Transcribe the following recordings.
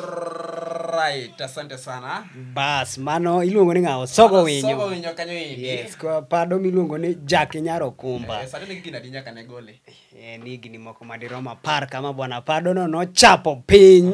Alright, asante sana. bas mano iluongo ni ng'awo sogo Sogo winyo winyo kanyo indi. yes kwa pado miluongo ni jack nyaro kumba Eh, sani ne gigina di nyaka ne gole. Eh, ni higni moko madirom apar kama bwana padono nochapo piny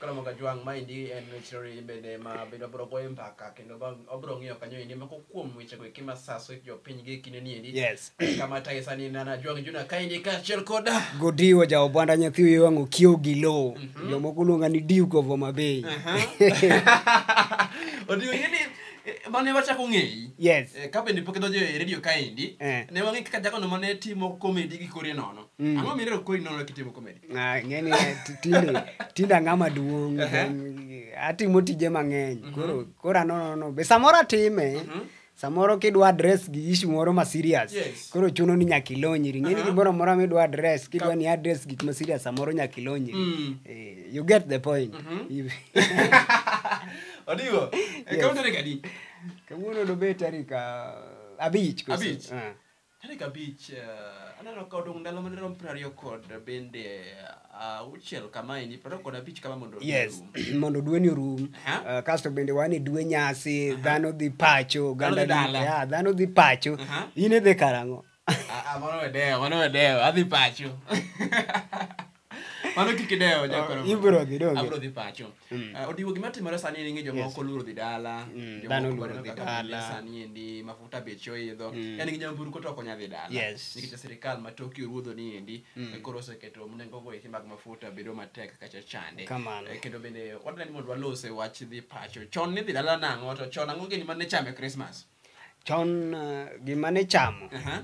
Karamoga Jwang' maendi en missionary bende ma bende obiro goyo mbaka kendo ba- obiro ng'iyo kanyo endi moko kuom wechego eki ma saso jopiny gi kinde ni endi Yes. kama tayo sani nana Jwang' Juna kaendi kaachiel koda Godiwo ja Obwanda nyathi wiye wang' okiewo gi lowo. Jomoko luonga ni Duke of Homa Bay. odiyo ni mane wachako ng'eyi Yes. Eh, ka bende pok idonjo e redio kaendi Eh. ne wang'e kaka jagono mane timo komedi gi kori nono Mm. ang'o mirero kori nono kitimo komedi Ah, ng'eni eh, ti- tinde tinde ang'a maduong' then atimo tije mang'eny koro koro anonono be samoro atime samoro kidwa adres gi ishu moro ma serious Yes. koro chuno ni nyaka ilonyri ng'eni gimoro amora midwa adres kidwa ni adres gik ma serious samoro nyaka ilonyri Mm. Eh, you get the point If- odigo Yes. kaunti ni kadi kawuono dobet tarik ah, abich koso? Abich. Ah. Tarik abich, eh, aneno ka odong' ndalo mane rom piero ariyo kod bende eh, auchiel kama endi, piero ariyo kod abich kama mondo yes orum. mondo dweni orum Aha. uh, kasto bende wan e dwe nyasi dhano dhi pacho Dhano dhi oganda dhi- dala. yeah, dhano dhi pacho Aha. in idhi karang'o Ah, ah, mano wedewo, mano wedewo, adhi pacho. mano kik idewo nyakono. Ibro dhi doge. Abro dhi pacho. Ah, Odiwo gima timore sani en ni jomoko oluoro dhi dala. Mm, jomoko dhano oluoro dwaro dhi kaka dala. pile Sani endi mafuta beche oidho. Mm. En gi nyamburko to ok onya dhi dala. Yes. Nikech sirikal ma Tokyo ruodho ni endi Mm. koro oseketo nengo go eki mag mafuta bedo matek kacha chande. Kamano. Eh, Kendo bende wadwaro ni mondo walose wach dhi pacho. Chon ni dhi dala nang'o to chon ang'o gini mane chame Christmas. Chon uh, gima ne chamo Aha.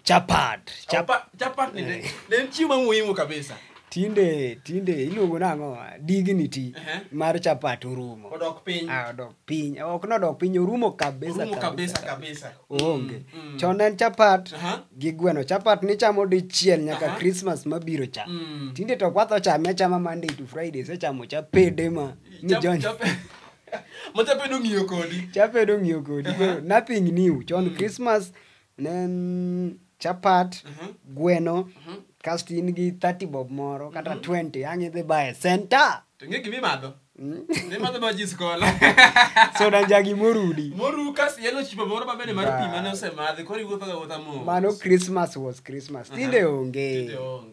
chapat chap, Chapa- chapat ni ne ne en chiemo muhimu kabisa tinde tinde iluongo nang'o dignity Ehe. mar chapat orumo odok piny Ah, odok piny ok nodok piny orumo kabisa Orumo kabisa, kabisa. onge Mm, mm. chon en chapat Aha. gi gweno chapat nichamo dichiel nyaka Aha. krismas mabiro cha Mm. tinde to kwatho chame achama monday to friday sechamo cha pede ma Chap- mijon chape- ma chape nong'iyo kodi chapedo ng'iyo kodi Aha. koro nothing new chon krismas ne en chapat gweno kasto in gi 30 bob moro kata 20 ang' idhi baye senta To ng'e gima imadho. Ne madho ma jis kola. soda njagi morudi Moru kas yellow chipo moro ma bende mar pi mane osemadhi koro iwuotho ga wuotha mos. mano christmas was christmas tinde onge Tinde onge.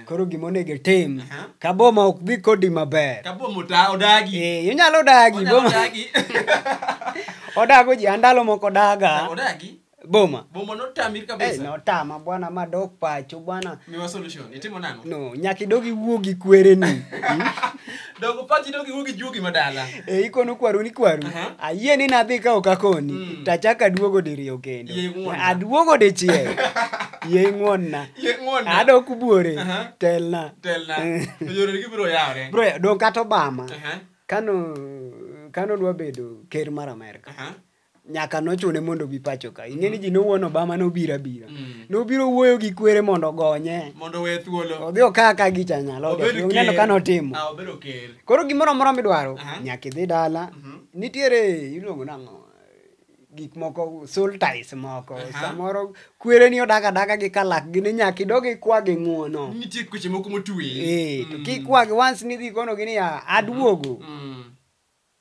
koro gima onego itim Aha. ka boma ok dhi kodi maber Ka boma ota- odagi. Eh, inyalo dagi Onyalo boma odagi. odago ji andalo moko daga Odagi. boma Boma notami Eh, kabisa. notama bwana madok pacho bwana Miwa solution. Itimo nang'o? no nyaka idog iwuo gi kwereni Dogo pachi dogi wugi jugi madala. E ikono kwaru ni kwaru. Aha. Ayie ni nadhi ka ok akoni. Mm. Tachaka duogo diriyo kendo. Yie ng'wonna. Aduogo dichiel. Yie ng'wonna. Ye ng'wonna. Adok buore. Aha. Telna. Telna. To yore gi biro yawre. Bro, dong kata Obama. Aha. Kano kano dwa bedo ker mar Amerka. Aha. nyaka nochune mondo obi pacho ka ing'e ni ji nowuon obama nobiro abira mm. nobiro wuoyo gi kwere mondo ogonye mondo we thuolo odhi okaa ka gicha nyalo neno ka notimo ah, koro gimoro amora midwaro nyaka idhi dala mhm. nitiere iluongo nang'o gik moko sultis moko samoro kwere ni odaga daga gi kalak gini nyaka idogi kwa gi ng'uono nitie kweche moko motwe eh to mm. kikwagi once nidhi kono gini ya aduogo mm.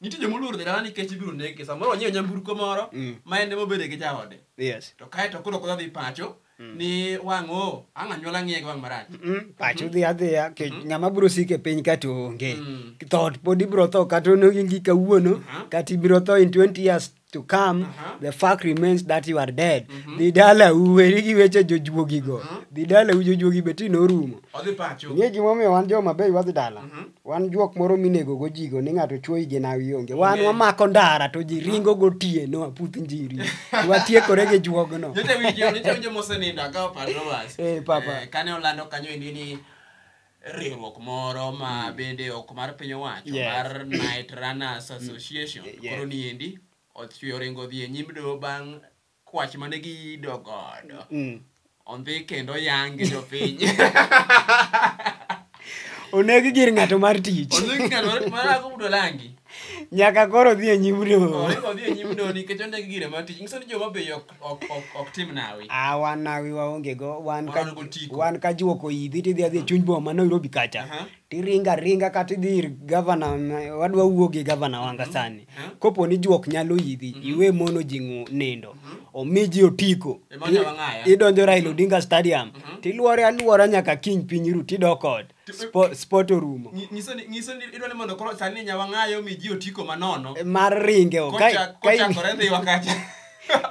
nitie joma oluoro dhi dala nikech ibiro nege samoro onyiewo nyamburko moro Mm. ma en ema obede gi jaode yes to kae to koro kodwa dhi pacho ni wang' o ang' anyuola ng'iye gi wang' marach Mm, pacho dhi adhiya ke ng'ama biro sike piny ka to onge Mm. thot pod ibiro tho kata onogi kawuono Aha. kata ibiro tho in 20 years to come uh-huh. the fact remains that you are dead mm-hmm. dhi dala u weri gi weche jojuogi go uh-huh. dhi dala u jojuogi be ti norumo odhi pacho ng'e gima omiyo wan joma bei wadhi dala mm-hmm. wan juok moro minego go jigo ni ng'ato chuoyi gi nawi onge wan okay. wamako ndara to ji ringo go tie no aputh njiri watiekore gi juogno jote winjo jote winjo mosenindo akawo pato bas eh papa eh, kane olando kanyo endi ni riwruok moro ma mm. bende ok mar piny owacho yes. mar Night Runners mm. Association mm. yes. koro niendi ochwe oringo dhi e nyim doho bang' kwach mane giyido godo mm. ondhi kendo yangi jopiny oneg gir ng'ato mar tich nyaka koro dhi e nyim doho nikech oneg gire mar tich nyiso ni joma be ok ok ok ok tim nawi Ah, wan nawi waonge go wan ka Wan go tiko. wan ka juoko idhi tidhi adhi e chuny boma ma Nairobi kacha Aha. tiringa ringa kata idhi ir gavana ma- wadwa wuo gi gavana wanga sani Aha. kopo ni juok nyalo idhi iwe mono ji ng'u- nindo omi ji otiko Ema nyalo ng'aya. idonjo Raila Odinga Stadium tilwore alwora nyaka kiny piny ru tidok ot Spo- sport orumo Nyi- nyiso ni- nyiso ni idwa ni mondo koro sani nyawang'ayo mi ji otiko manono mar ringe o. Ka- Kocha- ka in- kochakore dhiwa kacha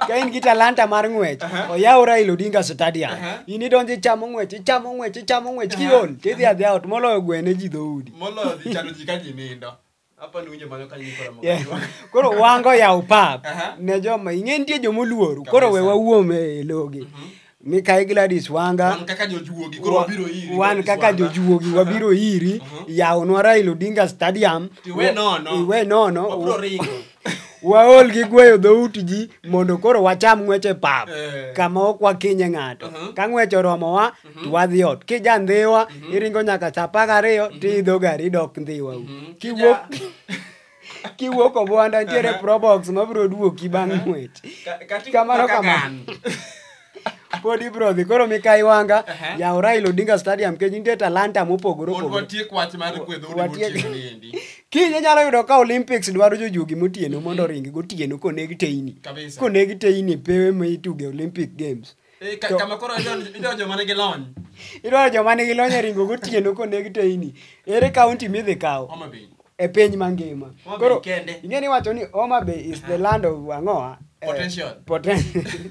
ka in gi talanta mar ng'wech oyaw raila odinga stadium Aha. in idonjo ichamo ng'wech ichamo ng'wech ichamo ng'wech kiol tidhi adhi aot moloyo gwene ji dhoudi moloyo dhi chano ji ka ji nindo Hapa ni winjo mano ka nyiko ramo. Yeah. koro wango yaw pap Aha. ne joma ing'e nitie jomoluoru koro we Kabisa. wawuom e logi mikae gladis wanga Wan kaka jojuogi koro wa- wabiro iri. wan kaka jojuogi wabiro iri yawnwa raila odinga stadium Iwe nono. iwe nono Wabiro ringo. waol gi gweyo dhout ji mondo koro wacham ng'weche pap eh. kama ok wakinye ng'ato uh-huh. ka ng'wech oromowa uh-huh. to wadhi ot kija ndhiwa uh-huh. iringo nyaka sa apar gariyo tiidho gari idok ndhiwa u kiwuok kiwuok obwanda ntiere probox mabiro duoki bang' ng'wech kamano kamano pod ibro dhi koro mikayi wanga Ehe. yaw raila odinga stadium kech nitie talanta mopogore Mondo opogore watiek wach mar kwedho udi Watiek- motieno ni endi. kiny inyalo yudo ka olympics dwaro jojuogi motieno mondo oringi gotieno koneg teyni Kabisa. koneg teyni pewe ma ituge olympic games Eh, ka- To- kama koro idonjo- idonjo mana gi lony. idwaro joma nigi lony e ringo gotieno koneg teyni ere kaunti midhi kawo Homa Bay. e piny mangima Homa Bay kende. ing'e ni wacho ni homa bay is the land of ang'oa eh, Potential. poten-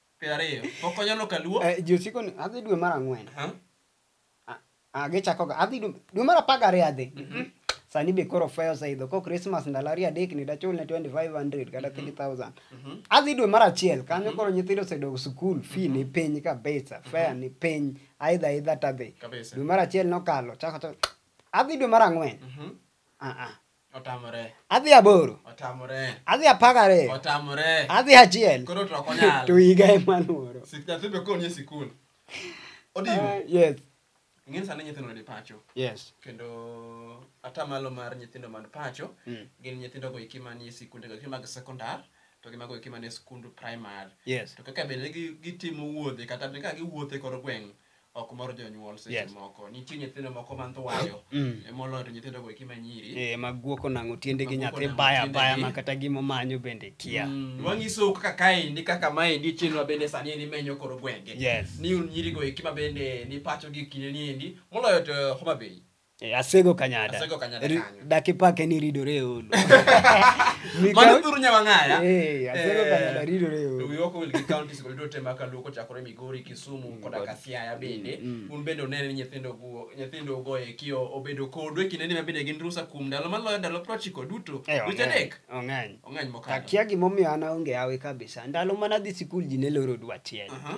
Piero ariyo. Pok onyalo kaluo. Eh, ji osiko ni adhi dwe mar ang'wen Aha. A- a, gichakoga adhi dwe dwe mar apar gariyo adhi sani be koro fwe oseidho ko krismas ndalo ariyo adek ni dachul ne 2500 kata 3000 adhi dwe mar achiel kanyo koro nyithindo osedok skul fi ni piny kabisa fea ni piny aidha aidha tadhi Kabisa. dwe mar achiel nokalo chako chako adhi dwe mar ang'wen Mhm. Ah, ah. Otamore. adhi aboro Otamore. adhi apar gariyo Otamore. adhi achiel Koro to ok onyal. to higa ema luoro Sik nyathi be koro nie sikul. Odigo. Ah, yes Ing'eni sani nyithindo ni pacho. yes Kendo atamalo mar nyithindo man pacho Mm. gin nyithindo go eki manie sikunde go eki mag sekondar to gi mago eki manie sikund primar. yes To kaka bende gi- gitimo wuodhe kata bende ka giwuothe kor gweng' ok mor jonyuol seche Yes. moko nitie nyithindo moko man thuwayo Mm. e moloyo to nyithindo go eki manyiri Eh, ma guoko nang'o tiende gi Maguoko nyathi nang'o baya tiende baya gi. ma kata gima omanyo bende kia Mm, wang'isou kaka kaendi kaka maendi chenro mabende sani endi menyo koro gwenge Yes. ni un nyirigo eki mabende ni pacho gi kinde niendi moloyo to homa bay Eh, asego kanyada Asego Kanyada Ri- kanyo. daki pake ni ridore e olo Mikaw- Mano thuru nyawang'aya. Eh, asego Eh, kanyada ridore e olo We work with the counties kod duto ma kaluo kochakore Migori, Kisumu koda ka Siaya bende. Un bende unene ni nyithindo go nyithindo go e kio obedo kodu e kinde ni mabende gin rusa kuom ndalo maloyo ndalo 90 duto. Eh, Dweche ong'eny, adek. ong'eny Ong'eny mokalo. akia gimomiyo an aonge awe kabisa ndalo mana dhi sikul ji ne loro dwa tiel Aha.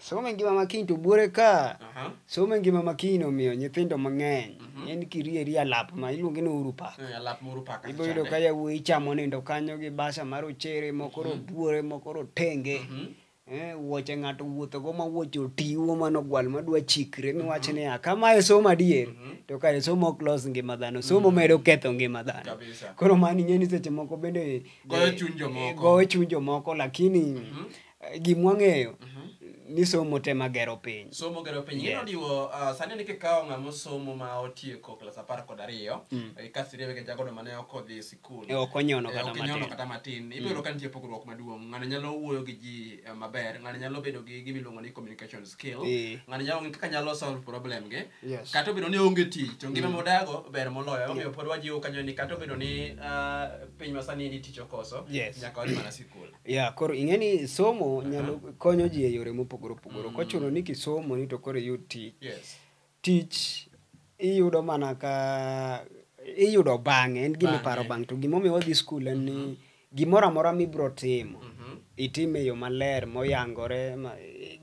Somo e ngima ma kiny to buore ka. Aha. Somo e ngima ma kiny omiyo nyithindo mang'eny. En kirieri alap ma iluonge ni uru pak. Eh, Alap moro paka. Ibo yudo ka yawuoyi chamo nindo kanyo gi basa mar ochere moko robuore moko rotenge. Eh, wuoche ng'ato wuothogo ma wuoche otiwo mano gwal madwa chikre miwach niya kama e somo adier to kare somo ok los ngima dhano somo medo ketho ngima dhano Kabisa. koro mani ng'e ni seche moko bende Goyo eh, chuny jomoko. eh, goyo chuny jomoko lakini gimwa ng'eyo ni somo te magero piny somo gero piny Yes. yes. diwo uh, sani ni kikawo ng'ama osomo ma otieko klas apar kod ariyo Mm. eh, kasi riwe gi jagodo mane ok odhi e sikul E, ok onyono Eh, kata ok onyono matin. kata matin ibiro ka nitie pogruok maduong' ng'ano nyalo wuoyo gi ji eh, maber ng'ano nyalo bedo gi gima iluongo ni communication skill Eh. ng'ano nyalo ng'e kaka nyalo solve problem gi Yes. kata obedo ni onge tich to ngima modago ber moloyo omiyo pod wajiwo kanyo ni kata obedo ni ah, piny masani ni tich okoso Yes. nyaka wadhi mana sikul ya koro ing'e ni somo nyalo konyo ji e yore mopogore opogore ok ochuno ni kisomo ni to koro iyud tich yes tich iyudo mana ka iyudo bang'e en gima Bang'e. iparo bang'e to gimomiyo wadhi skul en ni gimoro amora mibro timo itime e yo maler moyangore ma-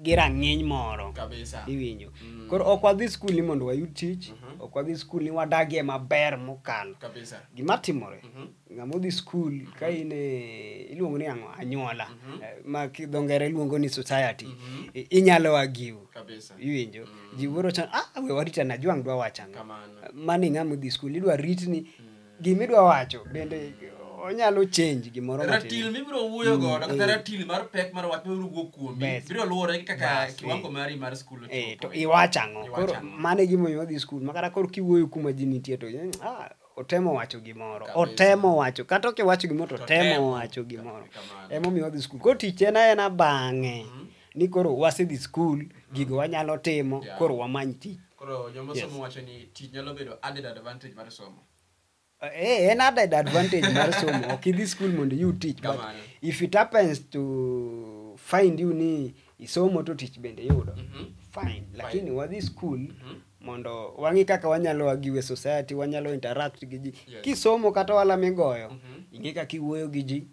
gi rang'iny moro kabisa iwinjo koro ok wadhi skul ni mondo wayud tich ok wadhi skul ni wadagie maber mokalo kabisa gima timore ng'ama odhi skul ka mhm. in eh, iluongo ni ang'o anyuola mm -hmm. Eh, ma kidho ngere luongo ni society mm -hmm. inyalo agiw iwinjo mm -hmm. ji wuoro chan ah we warita na jwang dwa wacha ang'o mani ng'ama odhi skul idwa rit ni mm. gima idwa wacho bende onyalo change gimoro ratil mibiro wuoyo mm, godo kata eh. ratil mar pek mar wach mibiro wuo kuomi biro luwore gi kaka kiwango mari mar skul to iwacho ang'o koro mano e gimomiyo wadhi skul makata koro kiwuoyo kuma ji nitie to ah otemo wacho gimoro Kabisa. otemo wacho kata ok iwacho gimoro to Otemo. otemo wacho gimoro Kamano. emomiyo wadhi skul koro tich en aena bang'e ni koro wasedhi skul gigo wanyalo timo Yeah. koro wamany tich koro joma Yes. somo wacho ni tich nyalo bedo added advantage mar somo Eh, en added advantage mar somo ok idhi skul mondo iyud tich but Kamano. if it happens to find you ni isomo to tich bende yudo Mhm. fine lakini wadhi skul mondo wang'i kaka wanyalo agi we society wanyalo interact gi ji yes. kisomo kata wala migoyo mm -hmm. ing'e kaka iwuoyo gi ji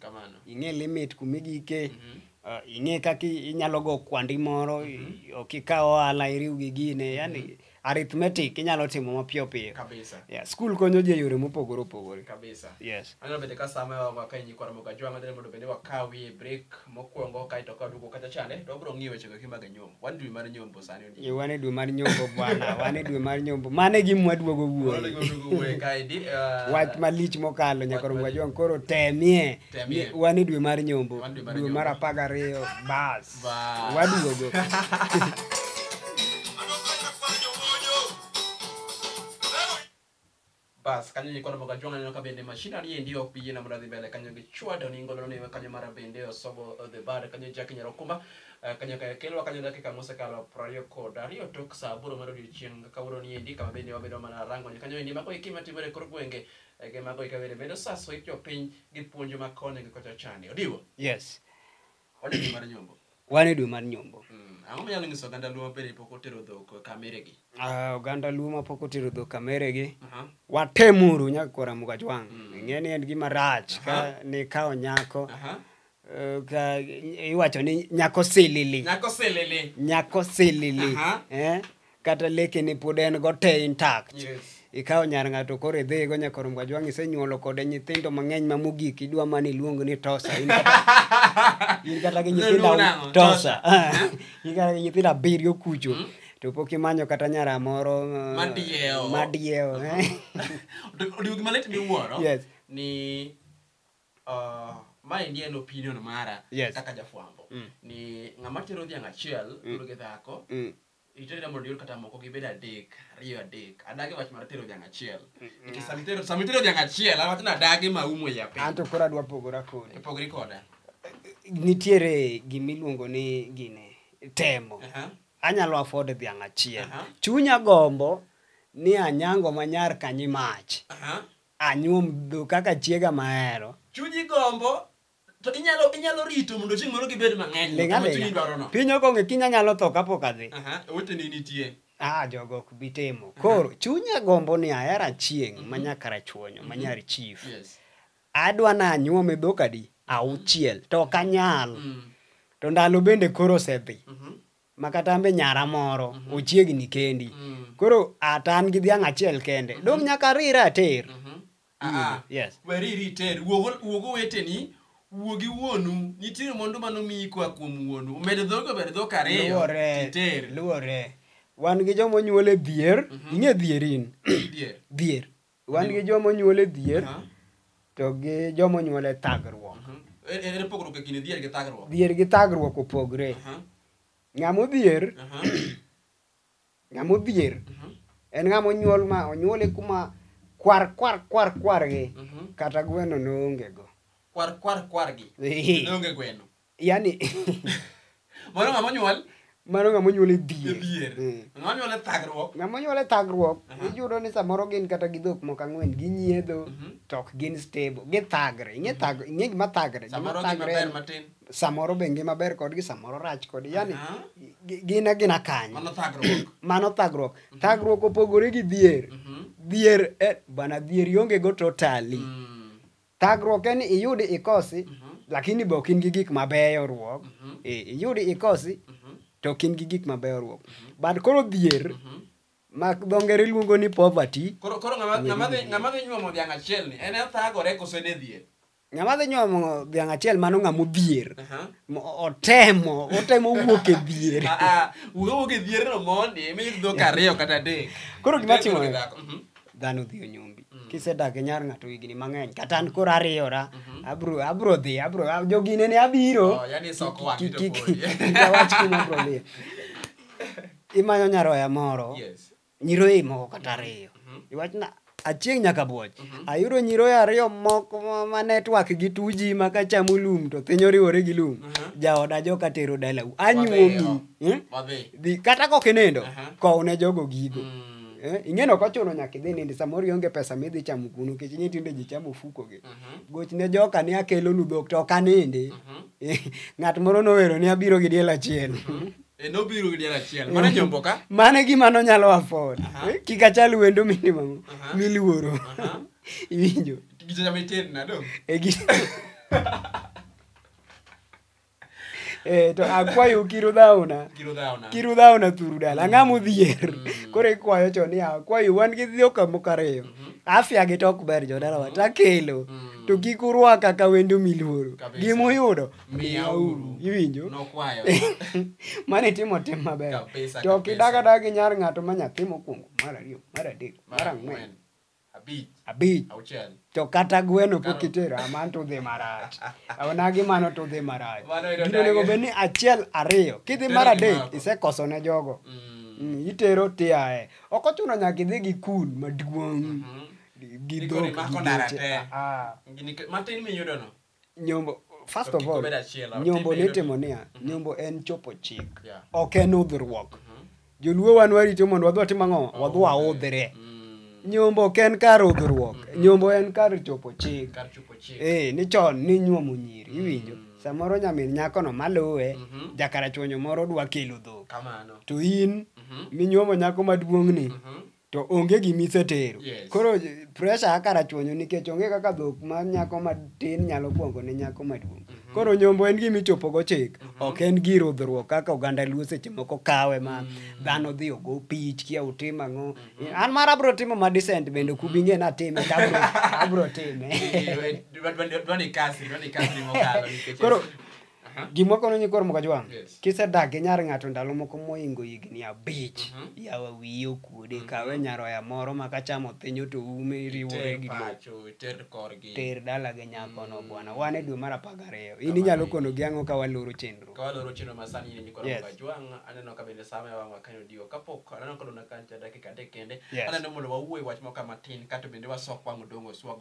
ing'e limit kumigike mm -hmm. Uh, ah, ing'e kaka inyalo go kwandi moro mm -hmm. ok ikaw ohala iriw gi gine mhm. yani mm -hmm. arithmetic inyalo timo mapiyo piyo kabisa yeah, skul konyo ji e yore mopogore opogore kabisa yes anyalo bende ka sama wawa ka inyi kwara moga jwang' adhine mondo bende wakawi e break mokwongo kaeto ka duogo kacha chande to wabiro ng'iyo wechego kimage nyom wan dwe mar nyombo sani Yo wan e dwe mar nyombo bwana, wan e dwe mar nyombo. Mano e gima waduogo wuoyo. Uh, Wach malich mokalo nyaka rom wajwang koro temie. temie. Wan e dwe mar nyombo, dwe mar apar gariyo bas. Waduogo. Bas, kanyo nikono moga jwang'a neno ka bende machinery endi ok bi yiena mondo adhi mbele kanyo gi chwado ni ngolo ni kanyo mara bende osogo the bad kanyo Jack Nyarokumba eh, kanyo ka kelwa kanyo dakika mosekalo prariyo kod ariyo tok saa aboro mar odiochieng' kawuono ni endi kama bende wabedo mana rango ni kanyo endi mago eki matimore e kor gwenge eh, gi mago eka bende medo saso it jopiny gi puonjo ma koni gi kocha chani odiwo Yes. Wan e dwe mar nyombo. wan e dwe mar nyombo Mm, Ang'o minyalo nyiso oganda Luo mabende pok otero dhok kameregi? Ah, oganda luo ma pok otero dhok kameregi Aha. watemuru nyaka kora mukajwang' Mm. ing'e ni en gima rach ka Aha. nikawo nyako Aha. eh, ka iwacho ni nyako silili Nyako silili. nyako silili Aha. eh? kata leke ni pod en go te intact yes. ikawo nyar ng'ato koro idhigo nyakorom gajwang' isenyuolo kode nyithindo mang'eny ma mogik idwa mana iluong ni tosa in kata gi nyithindo tosa in kata gi nyithindo abiriyo kucho mm -hmm to pok imanyo kata nyara moro uh, madiewo madiewo eh? odiogi malit miwuoro yes ni uh, ma endi en opinion mara yes. kaka jafwambo mm. ni ng'ama tero dhiang' achiel mm. gi dhako mm. Ichoni na mondo ior kata moko gibed adek, ariyo adek. Adagi wach mar tero dhiang' achiel. Nikech sama itero sama itero dhiang' achiel, awach ni adagi ma umo ya piny. Anto koro adwa pogora kodi. Ipogri koda. Nitiere gimiluongo ni gine temo. Aha. Anyalo afford dhiang' achiel. Aha. Chunya gombo ni anyango manyar kanyimach. Aha. Anyuom dho kaka chiega mahero. Chunyi gombo To inyalo inyalo rito mondo chieng' moro gibed mang'eny. Ling' kama chunyi alinga. dwarono. Piny okong'e kiny anyalo tho kapok adhi. Aha, oweteni nitie. Ah, jogo ok bi timo. Koro chunya gombo ni ahero achieng' ma nyaka rachuonyo, ma nyar chief. Yes. Adwa ni anyuome dhok adi? Auchiel. To ok anyal. Mm. To ndalo bende koro osedhi. Mhm. Ma kata ambe nyara moro ochiegni kendi. Mm. Koro ata an gi dhiang' achiel kende. Dong' nyaka arira ater. Mhm. Ah, Yes. weri riter wuogo wuogo weteni wuogi wuonu nitiere mwandu mano miyi koa kuom wuonu omed dhogo omed dhok ariyo Luwore. titer Luwore. Wan gi joma onyuol e dhier, ing'e dhier in. Dhier. Dhier. Wan gi joma onyuol e dhier Aha. to gi joma onyuol e thagruok. Ere- ere pogruok e kind dhier gi thagruok Dhier gi thagruok opogre. Aha, Ng'ama odhier aha. Ng'ama odhier mhm. en ng'ama onyuol ma onyuole kuma kwar kwar kwar kwar gi mhm. kata gweno noonge go. Kwar kwar kwar gi noonge gweno. Yani Mano ng'ama onyuol mano ng'ama onyuol e dhier mm. ng'ama onyuol e thagruok ng'ama onyuol e thagruok uh-huh. iyudo ni samoro gin kata gi dhok moko ang'wen ginyiedho uh-huh. to ok gin stable githagre ing'e uh-huh. gima thagre samoro gima ber matin samoro be ngima ber kodgi samoro rach kodgi yani gin agina kanyo mano thagruok mhm. thagruok opogore gi dhier mhm. dhier eh, bana dhier ionge go totally mm. thagruok en iyudi ikosi mhm. lakini be ok in gi gik mabeyo ruok eh, iyudi ikosi to ok in gi gik mabeyo ruok but koro dhier ma dho ngere luongo ni poverty koro ng'ama dhi nyuomo dhiang' achielni en e thagore kose ne dhier Ng'ama dhi nyuomo dhiang' achiel mano ng'ama odhier. Aha. Mo- Otemo, otemo wuok e dhier. Ah, ah, wuga wuok e dhier no mondi mi dhok ariyo kata adek Koro gima Dhok timore- dhako, mhm. Dhano dhi onyombi. Kisedak e nyar ng'ato higni mang'eny, kata an koro ariyora, abro abro dhi, abro ab- jogine ne abiro. Oh, yani soko wang' Ki- to ki- podi. ki- ki- awach kuma abro dhi. Imanyo nyaroya moro. Yes. nyiroye moko kata ariyo iwachna achieng' nyaka buoch ayudo nyiroye ariyo moko ma- ma network gi tuji ma kachamo lum to piny oriwore gi lum jaoda joka tero dalau anyuomi eh? Wadhi. Dhi- kata kok inindo Aha. kowne jogo gigo Mm. Eh, ing'eno ok ochuno nyaka idhi nindi samoro ionge pesa midhi chamo kunu kech ing'e tinde ji chamo ofukogi Mhm. gochne joka ni akelonu dhok to ok anindi Mhm. ng'at moro nowero ni abiro gi diel achiel E, nobiro gi diel achiel mana nyombo ka mano e gima nonyalo afford Aha. Eh, kik achal wendo minimum Aha. miluoro Aha. iwinjo gijoja mitin nado e gi Eh, to akwayo kiru dhauna giro dhaona kiru dhauna thuru dala ang'a modhier Mm. koro ikwayo cho ni akwayo wan gi dhio kamoko ariyo Mhm. afya gi to ok ber jodalawa takelo Mm. to kik urwaka ka wendo miluoro Kabisa. gimuyudo miyauru iwinjo nokwayo mane itimo tim maber Kabisa, to ok kabisa. idag adaga gi nyar ng'ato ma nyathi mokwongo mar ariyo mar adek mar ang'wen abich abich auchiel to kata gweno pok Karo. itero aman to udhi marach aonagi mano to udhi marach Mano yudo gino onego dagi. bed ni achiel ariyo kidhi Tero mar adek gimako. isekoso ne jogo Mm, Mm, itero tiae ok ochuno nyaka idhi gi kun maduong' mhm. gi Ni dhok koro imako gi dara geche. te. Ah, ah. Gini ke- matin miyudono nyombo first To of kik all obed achiel, otime nyombo eno. nitimo niya nyombo en chopo chik Yeah. ok en udhruok joluo wan warito mondo wadhi watim ang'o wadhi waudhre nyombo ok en kar udhruok nyombo en kar chopo chik Kar chopo chik. ee ni chon ni nyuomo nyiri iwinjo samoro nyamin nyakono maluwe Mhm. jakarachuonyo moro dwa kelo dhok Kamano. to in minyuomo nyako maduong'ni Mhm. to onge gima isetero yes. koro pressure akara chwonyo nikech onge kaka dhok ma nyako matin nyalo kwongo ne nyako maduong mm -hmm. koro nyombo en gima ichopo go chik mm -hmm. ok en gir udhruok kaka oganda luo seche moko kawe ma mm -hmm. dhano dhi ogo pich kia utim ang'o mm -hmm. an mar abro timo ma descent bende kubinge na time abro time koro Aha. gimwa kono nyikwar mokajwang' Yes. kisedak gi nyar ng'ato ndalo moko moingo higni abich Mhm. yawa wiye okuode kawe nyaroya moro ma kachamo thinyo to ume riwore Ter gi lo pacho, ter korgi. ter dala gi nyakono bwana wan e dwe mar apar gariyo in inyalo kono gi ang'o ka waloro chenro Ka waloro chenro ma sani ni nyikwa Yes. yes. Jwang, aneno ka bende sama ya wang'wa kanyo diyo kapok aneno ka dona kancha dakika adek kende Yes. aneno mondo wawuoye wach moko matin kato bende wasok wang' odong' oswag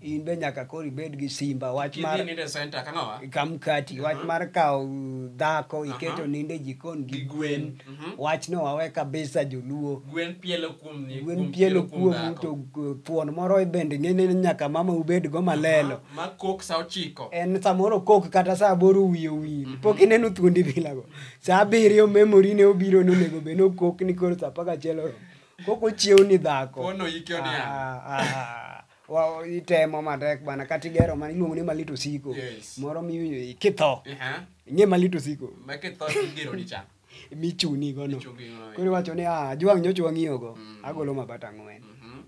in be nyaka koro ibed gi simba wach mar Kidhi ninde center kang'awa. kamkati wach mar kawo dhako iketo ninde jikon gi Gi gwen gwen. Mhm. wach no wawe kabisa joluo Gwen pielo kuom ni. gwen pielo kuomu dhako. to g- thuon moro e bende ng'ene ni nyaka mama ubed go malelo Ma kok sa ochiko. en samoro kok kata saa aboro wiye owil pok ineno thuondi bilago saa abiriyo memori ne obiro nonego bed nokok ni koro saa apagachiel oromo kok ochiew ni dhako Pono yike oniang'. Ah, ah, ah. Wa- itemo matek bana kata igero ma iluongo ni malit osiko Yes. moro mi kitho Aha. ing'e malit osiko Ma kitho igero ni cha. michuni gono Ichungi gono. koro iwacho ni "Ah, ajwang' nyocha wang'iyogo Mm. agolo mabata ang'wen Mhm.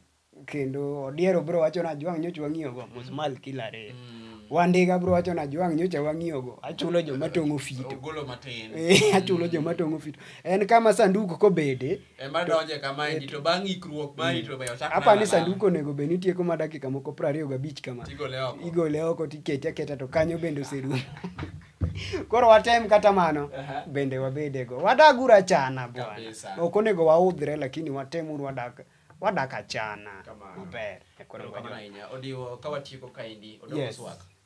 kendo odiero bro wacho ni ajwang' nyocha wang'iyogo musmal kilare Mm. wandiga bro wacho ni ajwang' nyocha wang'iyogo achulo joma tong'o fito Ogolo matin. Eh, achulo joma tong'o fito en kama sanduku kobede Ema donje kama endi to bang' ikruok mari to be ochak. Hapa ni sanduku onego bed ni tieko ma dakika moko prariyo gabich kama. Igole oko. Igole oko tikete aketa to kanyo bende oserumo. Koro watem kata mano uh-huh. bende wabedego. Wadag uru achana bwana. Ok onego waudhre lakini watem uru wadag wadak achana. Maber. Koro kamano ahinya. Odiwo ka watieko kaendi odoko yes. swak.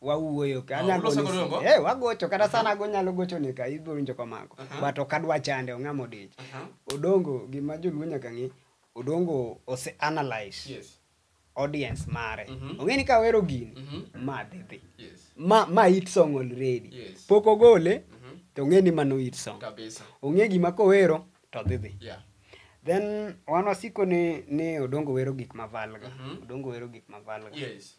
wawuoyo ka Ah, anyalo uloso godo nyisi- ngo? eh wagocho kata sana ago nyalo gocho ni ka ibiro winjo komako Aha. but ok adwa chande ong'ama odich Aha. odongo gima joluo nyaka ng'e odongo ose analyze Yes. audience mare Mhm. ong'e ni ka wero gini Mhm. ma dhi dhi Yes. ma ma hit song already Yes. pok ogole Mhm. to ong'e ni mano hit song Kabisa. ong'e gima kowero to dhi dhi Yeah. then wan wasiko ni ni odongo wero gik mavalga Mhm. odongo wero gik mavalga Yes.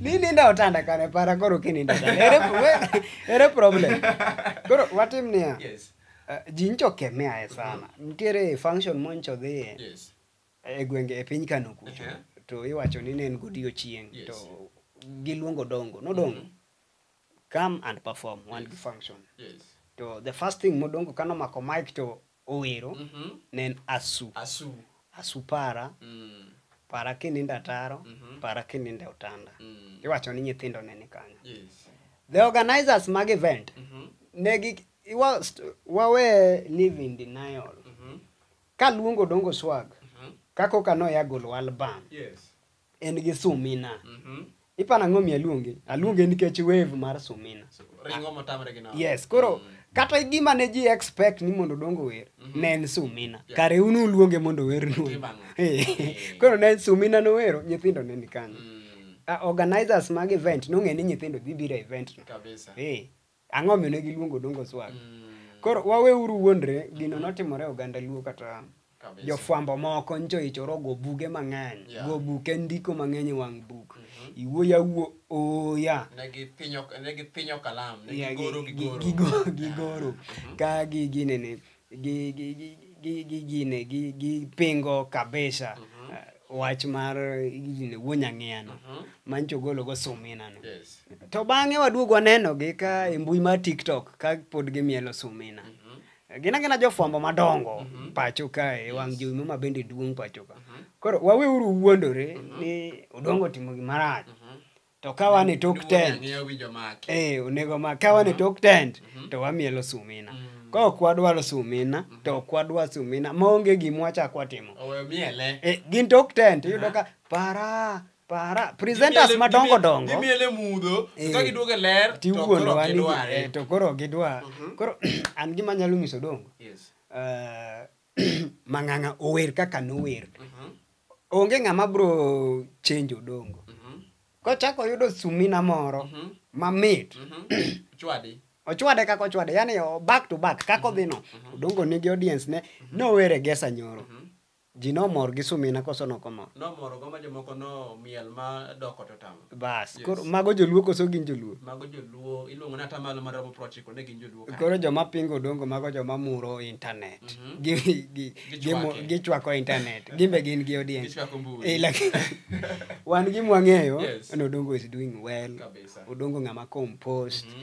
ni nindo otanda kare para koro kinindo otanda. ere, we- ere problem koro watim niya Yes. uh, ji ncho kemeae sana nitiere function moncho dhiye Yes. e gwenge e piny kano kucho Ehe. to iwacho ni ne en godiochieng' Yes. to giluongo dongo nodongo come and perform wan gi function Yes. to the first thing modongo kano mako mic to owero Mhm. ne en asu Asu. asu para Mm. para kinindo ataro Mhm. para kinindo e otanda Mm. iwacho ni nyithindo ne ni kanyo Yes. the organizers mag event Mhm. ne gi iwa- st- wawe live in denial Mhm. kaluongo dongo swag Mhm. kaka oka noya golo album Yes. en gi sumina Mhm. ipana ng'o mi aluonge aluonge nikech wave mar sumina So, ringo motamre gi nono. yes koro kata gima ne ji expect ni mondo dongo wer ne en sumina Yeah. kare un uluonge mondo ower nu Tim ang'o? Eh. koro ne sumina nowero nyithindo ne ni kanyo Mm, Ah, organizers mag event nong'e ni nyithindo dhi biro e event no kabisa. Eh, Ang'o omiyo ne giluongo Odongo Swag? Mm. Koro waweuru wuondre, gino mm-hmm. notimore oganda Luo kata jofwambo moko ncho ichoro go buge mang'eny yeah. go buke ndiko mang'eny e wang' buk mm -hmm. iwuoyo awuo oya gigoro gigoro ka gi ginene gi gi gi gi gi gine gi gi pingo kabisa uh, wach mar gine wuonya ng'iyano mancho golo go sumina no Yes. to bang'e waduogo waneno gi ka e mbui mar tiktok ka pod gimielo sumina gina gina jofwambo madongo pacho kae wang' jowi mama bende duong' pacho ka koro waweuru wuondore ni odongo timo gimarach to ka wan e tok tent eh onego ma ka wan e tok tent mhm. to wamielo sumina mm. ka ok wadwaro sumina mhm. to ok wadwar sumina maonge gima wachak watimo eh, gin tok tent iyudo ka para para presenters madongo dongo gimiele mudho eh, ka giduogo e ler tiwuondowa ni eh, to koro gidwa mhm. koro an gima nyalo nyiso dongo eh, mang'ang'a ower kaka nower mhm. onge ng'ama bro chenjo dongo mhm. kochako oyudo sumina moro mhm. mamit ochwade kaka ochwade yani back to back kaka odhi no odongo nigi audience ne nowere gesa nyoro ji nomor gi sumina koso nokomor nomor go ma jomoko nomiel ma doko to tamo Bas, Yes. koro mago joluo koso gin joluo. Mago joluo iluongo ni atamalo maromo prochiko ne gin joluo. kanyo. Koro joma pingo dongo mago joma muro internet. Mhm. Gi gi gi Gichwake. mu- gichwako internet. Gimbe gin gi audience. Gichwako mbui. Eh, lakini wan gi mwang'eyo Yes. ni Odongo is doing well. Kabisa. Odongo ng'ama composed. Mhm.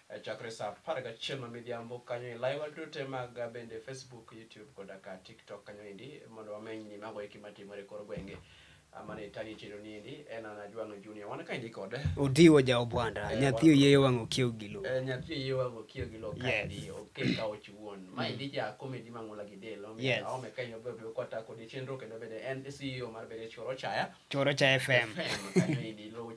e chakre saa apar gachiel ma midhiambo kanyo e laiwa dute mag bende Facebook, YouTube koda ka TikTok kanyo endi mondo wameny ni mago eki matimore kor gwenge amane tagi chiro ni endi en ana Jwang'o Junior wan kaendi kod Udiwo ja Obwanda eh, nyathi oyeyo wang' okiew gi lo eh, nyathi oyeyo wang' okiew gi lo kaendi oke ka ochi wuon ma endi ja komedi mang'ula gi del omiyo aome kaendi obiro kota kodi chenro kendo bende en CEO mar Berech Koro Chaya Choro cha FM.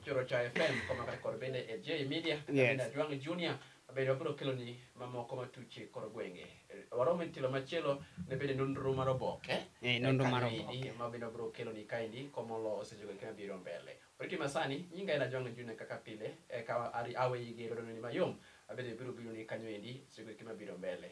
Choro cha FM koma kata kod bende e J Media. Yes. Adwang Junior bende wabiro kelo ni mamoko matuche koro gwenge eh, waromo e telo machielo ne bende nonro mar oboke eh, eh, nonro mar oboke ma bende wabiro kelo ni kaendi komolo osejogo kama biro mbele oriti masani nyinga ena jwang june kaka pile ka awe yige rodononi mayom abende biro biro ni kanyo endi osejogo kama biro mbele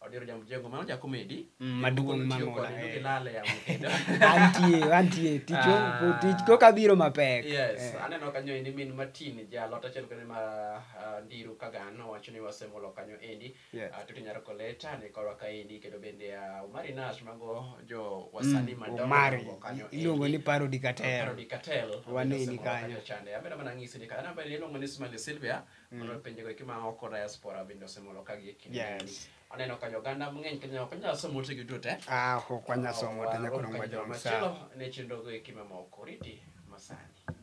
Odiro ja mjengo mano ja comedy. Mm, maduong' Tiyo mang'ula, kode, eh. gilal e yamo kendo. antie antie tich Ah. tich koka biro mapek Yes, Eh. aneno kanyo endi min Martin ja lot achiel kende ma ah, Ndiru Kagan owacho ni wasemolo kanyo endi. Yes. Ah, Tuti Nyaroko Leta ni korwa ka endi kendo bende ah, Omari Nash mago jo wasanii madongo omari dongo kanyo iluongo endi. ni parodi kater Parody Cartel. Waneni Wasemolo kanyo. chande. Amedo mana ng'isi ni kanyo bende iluongo ni Smiley Sylvia. Mondo mm. pinjego eki ma oko diaspora bende osemolo ka gi kinde. Yes. Aneno ka joganda mang'eny Kenya ok nyal somo te giduto te. Ah, ok wanyal somo te nyaka nongwa joma sa. Ne chenrogo eki mamoko riti masani.